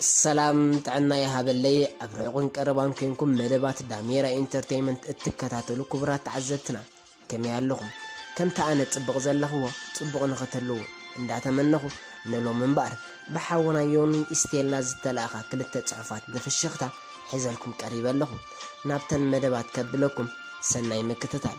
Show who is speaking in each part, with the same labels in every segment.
Speaker 1: ሰላም ጥዕና ይሃበለይ ኣብ ርሑቕን ቀረባን ኮንኩም መደባት ዳሜራ ኢንተርተይመንት እትከታተሉ ክቡራት ተዓዘብትና ከመይ ኣለኹም ከምቲ ኣነ ጽቡቕ ዘለኽዎ ጽቡቕ ንኽትህልዉ እንዳተመነኹ ንሎሚ እምበኣር ብሓውና ዮኒ ኢስቴላ ዝተላእኻ ክልተ ጽሑፋት ብፍሽኽታ ሒዘልኩም ቀሪበ ኣለኹ ናብተን መደባት ከብለኩም ሰናይ ምክትታል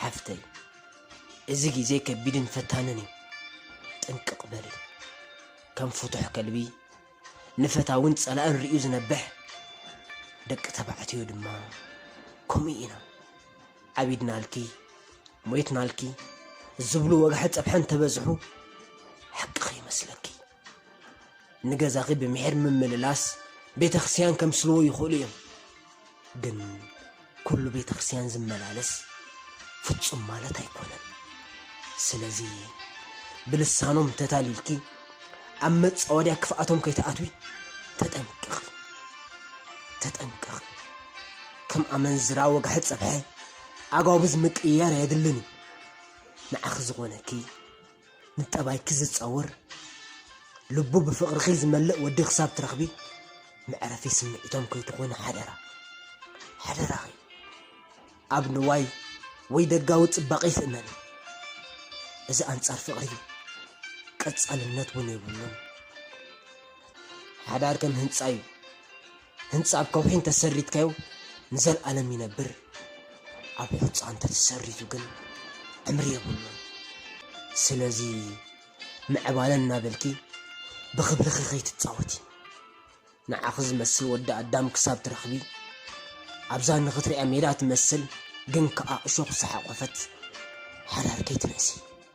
Speaker 1: ሓፍተይ እዚ ግዜ ከቢድን ፈታንን እዩ ጥንቅቅ በሊ ከም ፍቱሕ ከልቢ ንፈታውን ጸላእን ርእዩ ዝነብሕ ደቂ ተባዕትዮ ድማ ከምኡ ኢና ዓቢድናልኪ ሞይትናልኪ ዝብሉ ወግሐ ጸብሐ እንተበዝሑ ሓቂ ከይመስለኪ ንገዛኺ ብምሒር ምምልላስ ቤተክርስቲያን ከምስልዎ ይኽእሉ እዮም ግን ኩሉ ቤተክርስቲያን ዝመላለስ ፍጹም ማለት ኣይኮነን ስለዚ ብልሳኖም ተታሊልኪ ኣብ መፃወድያ ክፍኣቶም ከይትኣትዊ ተጠንቀቂ ተጠንቀቂ ከም ኣመንዝራ ወግሐ ፀብሐ ኣጓብዝ ምቅያር የድልን እዩ ንዓኺ ዝኾነኪ ንጠባይኪ ዝጻወር ልቡ ብፍቕርኺ ዝመልእ ወዲ ክሳብ ትረኽቢ መዕረፊ ስምዒቶም ከይትኾኒ ሓደራ ሓደራኺ ኣብ ንዋይ ወይ ደጋዊ ጽባቐ ይትእመኒ እዚ ኣንጻር ፍቕሪ እዩ ቀጻልነት እውን የብሉን ሓዳር ከም ህንጻ እዩ ህንጻ ኣብ ከውሒ እንተ ሰሪትካዮ ንዘልኣለም ይነብር፣ ኣብ ሑጻ እንተ ተሰሪቱ ግን ዕምሪ የብሉን። ስለዚ ምዕባለ እናበልኪ ብኽብርኺ ከይትጻወቲ። ንዓኺ ዝመስል ወዲ ኣዳም ክሳብ ትረኽቢ፣ ኣብዛ ንኽትርእያ ሜዳ ትመስል ግን ከኣ እሾኽ ዝሓቖፈት ሓዳር ከይትንእሲ።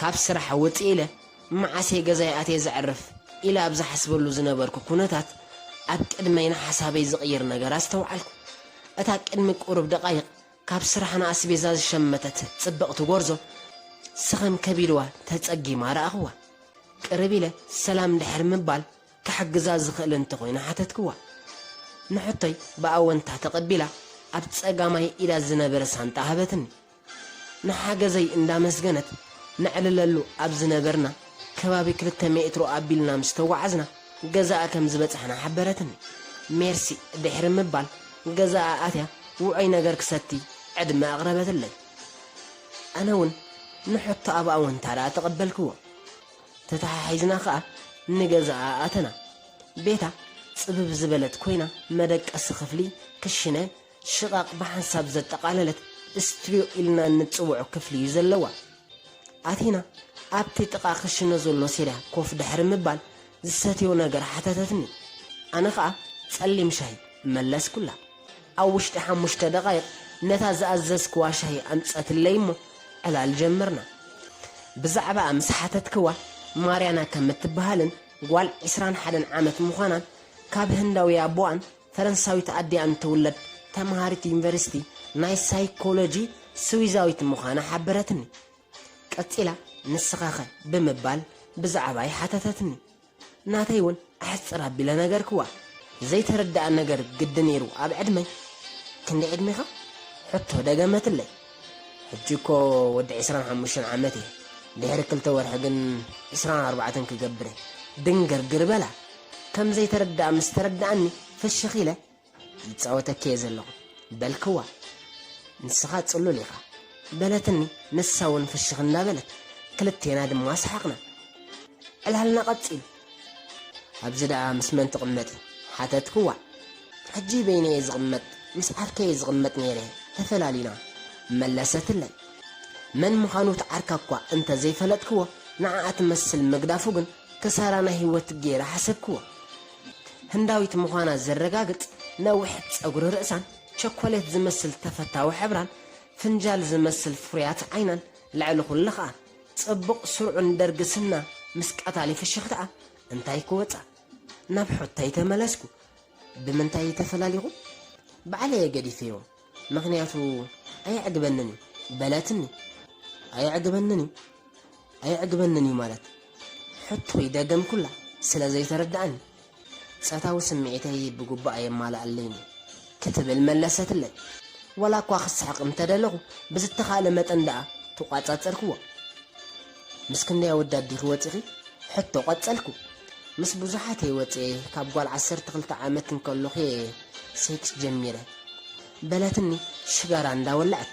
Speaker 1: ካብ ስራሕ ውጽእ ኢለ መዓስ'የ ገዛይ ኣትየ ዘዕርፍ ኢለ ኣብ ዝሓስበሉ ዝነበርኩ ኩነታት፣ ኣብ ቅድመይ ንሓሳበይ ዝቕይር ነገር ኣስተውዓልኩ። እታ ቅድሚ ቁሩብ ደቓይቕ ካብ ስራሕ ንኣስቤዛ ዝሸመተት ጽብቕቲ ጎርዞ፣ ስኽም ከቢድዋ ተጸጊማ ረኣኹዋ። ቅርብ ኢለ ሰላም ድሕሪ ምባል ክሕግዛ ዝኽእል እንተኾይነ ሓተትክዋ። ንሕቶይ ብኣወንታ ተቐቢላ ኣብ ጸጋማይ ኢዳ ዝነበረ ሳንጣ ሃበትኒ። ንሓገዘይ እንዳመስገነት ነዕልለሉ ኣብ ዝነበርና ከባቢ ክልተ ሜትሮ ኣቢልና ምስ ተጓዓዝና ገዛኣ ከም ዝበጻሕና ሓበረትኒ። ሜርሲ ድሕሪ ምባል ገዛኣ ኣትያ ውዑይ ነገር ክሰቲ ዕድመ ኣቕረበትለይ። ኣነ ውን ንሕቶኣ ብኣወንታዳ ተቐበልክዎ። ተተሓሒዝና ከኣ ንገዛኣ ኣተና። ቤታ ጽብብ ዝበለት ኮይና መደቀሲ ክፍሊ፣ ክሽነ፣ ሽቓቕ ብሓንሳብ ዘጠቓለለት ስትርዮ ኢልና እንጽውዖ ክፍሊ እዩ ዘለዋ። ኣቲና ኣብቲ ጥቓ ክሽነ ዘሎ ሴርያ ኮፍ ድሕሪ ምባል ዝሰትዮ ነገር ሓተተትኒ። ኣነ ኸኣ ጸሊም ሻሂ መለስኩላ። ኣብ ውሽጢ ሓሙሽተ ደቓይቕ ነታ ዝኣዘዝክዋ ሻሂ ኣምጸትለይ እሞ ዕላል ጀመርና። ብዛዕባኣ ምስ ሓተትክዋ ማርያና ከም እትብሃልን ጓል ዕስራን ሓደን ዓመት ምዃናን ካብ ህንዳዊ ኣቦኣን ፈረንሳዊት ኣዲኣ እንትውለድ ተምሃሪት ዩኒቨርሲቲ ናይ ሳይኮሎጂ ስዊዛዊት ምዃና ሓበረትኒ። ቀጺላ ንስኻኸ ብምባል ብዛዕባይ ሓተተትኒ። ናተይ እውን ኣሕጽር ኣቢለ ነገርክዋ። ዘይተረድኣ ነገር ግዲ ነይሩ ኣብ ዕድመይ ክንደይ ዕድሜኻ? ሕቶ ደገመትለይ። ሕጂ እኮ ወዲ ዕስራን ሓሙሽተን ዓመት እየ፣ ድሕሪ ክልተ ወርሒ ግን ዕስራን ኣርባዕተን ክገብር እየ። ድንግርግር በላ። ከም ዘይተረድኣ ምስ ተረድኣኒ ፍሽኽ ኢለ፣ ዝጻወተኪ'የ ዘለኹ፣ በልክዋ። ንስኻ ጽሉል ኢኻ። በለትኒ ንሳ'ውን ፍሽኽ እንዳበለት። ክልቴና ድማ ሰሓቕና። ዕላልና ቀጺሉ። ኣብዚ ደኣ ምስ መን ትቕመጢ? ሓተትክዋ። ሕጂ በይነይ'የ ዝቕመጥ፣ ምስ ዓርከይ'የ ዝቕመጥ ነይረ፣ ተፈላሊና። መለሰትለይ። መን ምዃኑ እቲ ዓርካ'ኳ እንተ ዘይፈለጥክዎ፣ ንዓኣ ትመስል ምግዳፉ ግን ክሳራ ናይ ህይወት ገይረ ሓሰብክዎ። ህንዳዊት ምዃና ዘረጋግጽ ነዊሕ ጸጉሪ ርእሳን፣ ቸኮሌት ዝመስል ተፈታዊ ሕብራን፣ ፍንጃል ዝመስል ፍሩያት ዓይናን፣ ልዕሊ ኩሉ ከኣ ጽቡቕ ስሩዕን ደርጊ ስና ምስ ቀታሊ ፍሽኽታኣ እንታይ ክወጻ? ናብ ሑተይ ተመለስኩ። ብምንታይ ተፈላሊኹም? ባዕለየ ገዲፈዮም። ምኽንያቱ ኣየዕግበንን እዩ በለትኒ። ኣየዕግበንን እዩ ኣየዕግበንን እዩ ማለት ሕቶይ ደገምኩላ ስለ ዘይተረድኣኒ። ጸታዊ ስምዒተይ ብግቡእ ኣየማልኣለይን እዩ ክትብል መለሰትለይ። ዋላኳ ክስሕቕ እንተደለኹ ብዝተኻእለ መጠን ደኣ ተቋጻጸርክዎ። ምስ ክንደይ ኣወዳት ዲኺ ወጺኺ? ሕቶ ቀጸልኩ። ምስ ብዙሓት እየ ወጺኤ፣ ካብ ጓል ዓሰርተ ክልተ ዓመት እንከለኹ እየ ሴክስ ጀሚረ። በለትኒ ሽጋራ እንዳወላዕት።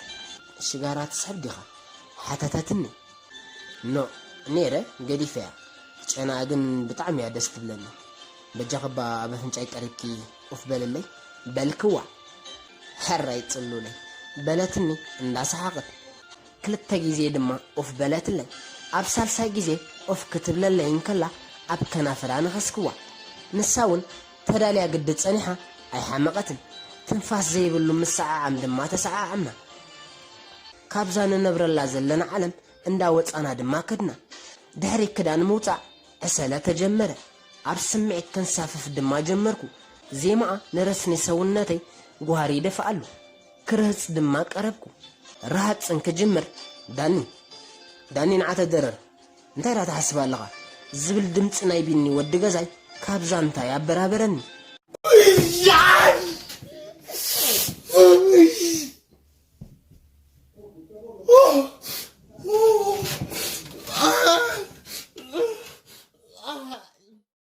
Speaker 1: ሽጋራ ትስሕብ ዲኻ? ሓተተትኒ። ኖእ ኔረ ገዲፈያ፣ ጨናኣ ግን ብጣዕሚ እያ ደስ ትብለኒ። በጃኺ'ባ ኣብ ኣፍንጫይ ቀሪብኪ ኡፍ በልለይ በልክዋ። ሕራይ ጽሉለይ። በለትኒ እንዳሰሓቐት። ክልተ ግዜ ድማ ኡፍ በለትለይ። ኣብ ሳልሳይ ግዜ ኡፍ ክትብለለይ እንከላ ኣብ ከናፍራ ነኸስክዋ። ንሳ እውን ተዳልያ ግዲ ጸኒሓ ኣይሓመቐትን። ትንፋስ ዘይብሉ ምስዓዓም ድማ ተሰዓዓምና። ካብዛ ንነብረላ ዘለና ዓለም እንዳ ወጻና ድማ ከድና። ድሕሪ ክዳን ምውጻእ ዕሰለ ተጀመረ። ኣብ ስምዒት ከንሳፍፍ ድማ ጀመርኩ። ዜማኣ ንረስኒ ሰውነተይ ጓህሪ ይደፍኣሉ። ክርህጽ ድማ ቀረብኩ። ርሃጽ እንክጅምር ዳኒ! ዳኒ ንዓተ ደረር! እንታይ ደኣ ትሓስብ ኣለኻ? ዝብል ድምጺ ናይ ቢኒ ወዲ ገዛይ ካብ ዛንታይ ኣበራበረኒ።